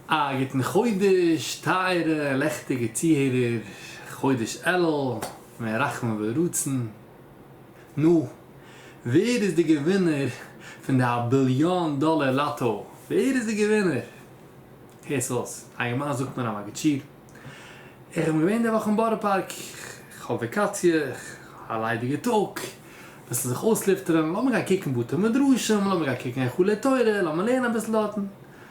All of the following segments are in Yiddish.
א גוטן חודש טייערע לעכטיגע צוהערער, חודש אלול מען רחמים ורצון. נו, ווער איז די געווינער פון די א ביליאן דאלער לאטא? ווער איז די געווינער? הערטס אויס, אלגעמיין זאגט מען א מגיד שיעור, איך בין געווען די וואך אין בארא פארק, איך האב וואקאציע, א ליידיגע טאג, אביסל זיך אויסלופטערען, לאמיר גיין קוקן בתי מדרשים, לאמיר גיין קוקן היכלי תורה, לאמיר לערנען אביסל דארטן.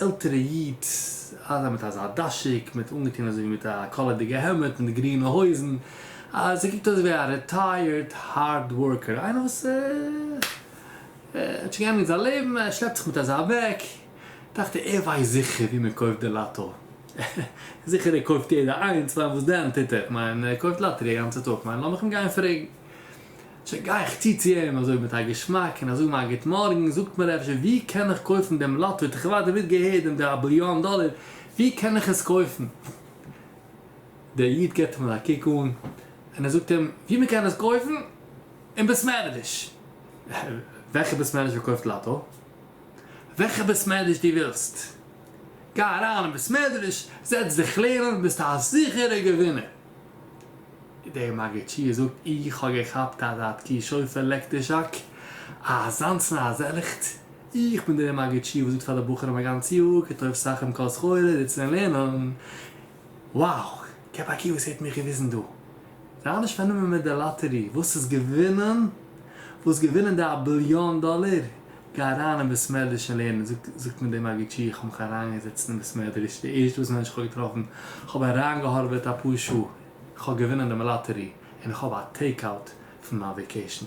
עלטערע איד, אזא מיט אזא דאשיק, מיט אנגעטון אזוי ווי מיט א קאלערדיגע העמד און די גרינע הויזן, אז ער קוקט אויס ווי א רעטייערד הארד ווארקער, איינער וואס האט שוין געענדיגט זיין לעבן, ער שלעפט זיך מיט אזא בעג, דאכט ער, ער ווייסט זיכער ווי מען קויפט די לאטא, זיכער ער קויפט יעדע איינס, כ'מיין וואס דען טוט ער, כ'מיין ער קויפט לאטערי א גאנצע טאג, כ'מיין לאמיך אים גיין פרעגן. צו גיי איך צו צו אים אזוי מיט א געשמאק און א זאג מיין גוט מארגן, זאגט מיר אפשר ווי קען איך קויפן דעם לאטו האט איך ערווארטעט נישט געהערט דעם די א ביליאן דאלער, ווי קען איך עס קויפן? דער איד געבט אים אזא קוק אן און ער זאגט אים ווי מען קען עס קויפן? אין בית מערדש! וועלכע בית מערדש פארקויפט לאטו? וועלכע בית מערדש דו ווילסט! גיי אריין אין בית מערדש זעץ דיך לערנען ביסט א זיכערע געווינער! דער מגיד שיעור זאגט איך האב געכאפט אז האט קי שופר לעקט די זשאק אזאנס נאר אז עלעכט איך בין דער מגיד שיעור וואס זאגט פאר די בחורים א גאנץ יאר כתוב סכם כל סחורה זיצן און לערנען wow כ'האב א קי וואס האט מיך געוויזן דא זיי האבן נישט פארנומען מיט די לאטערי וואס איז געווינען וואס געווינען די א ביליאן דאלער גיי אריין אין בית מדרש און לערן זאגט זאגט מיר דער מגיד שיעור איך האב מיך אריינגעזעצן אין בית מדרש די ערשטע וואס מענטש איך האב געטראפן כ'האב אריינגעהארוועט אפאר שעה איך האב געווינען דעם לאטערי און איך האב א טעיק אוט פון מיין וועקעישן.